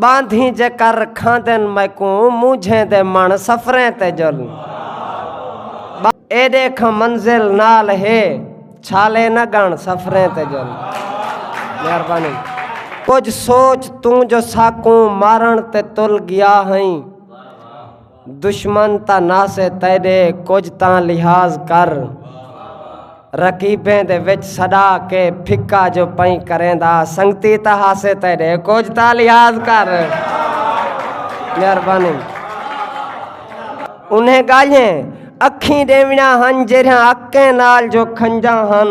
باندھی جے کر رکھاں دن میکوں مونجھیں دے من سفریں تے جل اے دیکھ منزل نال ہے چھالے نہ گن سفریں تے جل مہربانی کچھ سوچ توں جو ساکوں مارن تے تل گیا ہیں دشمن تاں ناسے تیڈے کجھ تاں لحاظ کر رقیبیں دے وچ سڈا کے پھکا جو پئیں کریندا سنگتی تاں ہاسے تیڈے کجھ تاں لحاظ کر مہربانی انہیں گالھیں اکھیں ڈیونا ہن جیرھاں اکیں نال جو کھنجاں ہن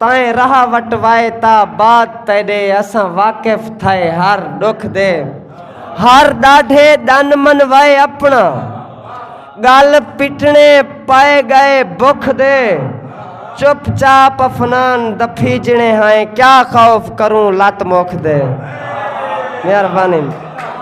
تائیں راہ وٹ وائے تا بعد تیڈے اساں واقف تھائے ہر ڈکھ دے ہر ڈاڈھے ڈن من وائے اپنا گل پٹنے پائے گئے بکھ دے چپ چاپ افنان دفی جنے ہائیں کیا خوف کروں لت مکھ دے مہربانی